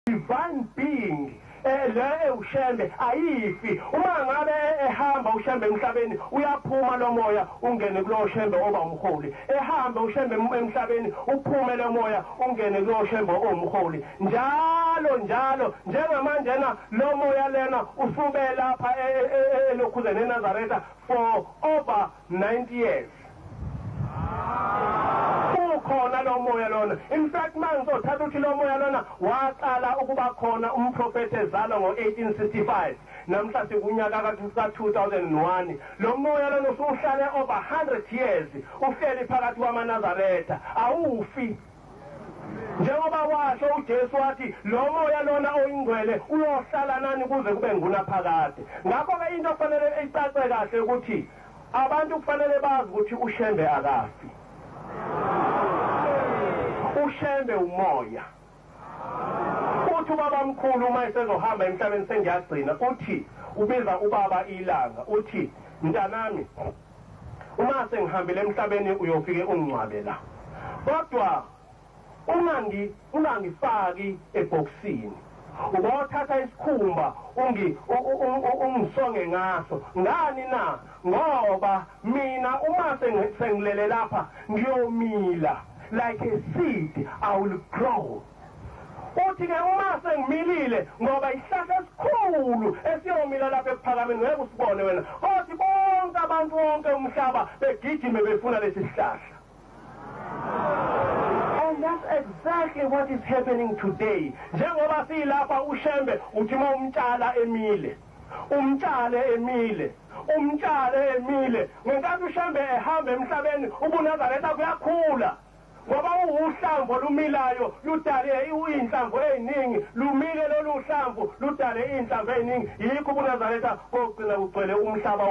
Divine being eh le ewushembe ayifi uma ngabe ehamba ushembe emhlabeni uyaphuma lomoya ungene kulowo shembe oba umholi ehamba ushembe emhlabeni uphume lomoya ungene kulowo shembe owumholi njalo njalo njengamanje na lomoya lena usube lapha e, e, e, elokhuzeni eNazaretha for over 90 years ukhona lo moya lona in fact uma ngizothatha ukuthi lo moya lona waqala ukuba khona umprofethi ezalwa ngo-1865 namhla sikunyaka ka-2001 lo moya lona usuhlale over 100 years uhleli phakathi kwamanazaretha awufi njengoba washo uJesu wathi lo moya lona oyingcwele uyohlala nani kuze kube ngunaphakade ngakho-ke into kufanele icace kahle ukuthi abantu kufanele bazi ukuthi ushembe akafi ushembe umoya uthi ubabamkhulu uma esezohamba emhlabeni sengiyagcina uthi ubiza ubaba ilanga uthi mntanami uma sengihambile emhlabeni uyofike ungingcwabe la kodwa ungangi ungangifaki ebhoksini ubothatha isikhumba ungi ungisonge ngaso ngani na ngoba mina uma sengilele lapha ngiyomila like a seed i will grow uthi ke uma sengimilile ngoba isihlahla esikhulu esiyomila lapha ekuphakameni ngeke usibone wena kothi bonke abantu wonke umhlaba begijime befuna lesi sihlahla And that's exactly what is happening today. Njengoba silapha uShembe uthi uma umtshala emile. Umtshale emile. Umtshale emile. Ngenkathi uShembe ehamba emhlabeni ubuNazaretha kuyakhula. Ngoba uwuhlamvu olumilayo ludale uyinhlamvu eziningi lumile lolu hlamvu ludale izinhlamvu eziningi yikho ubunazaretha kokugcina kugcwele umhlaba wa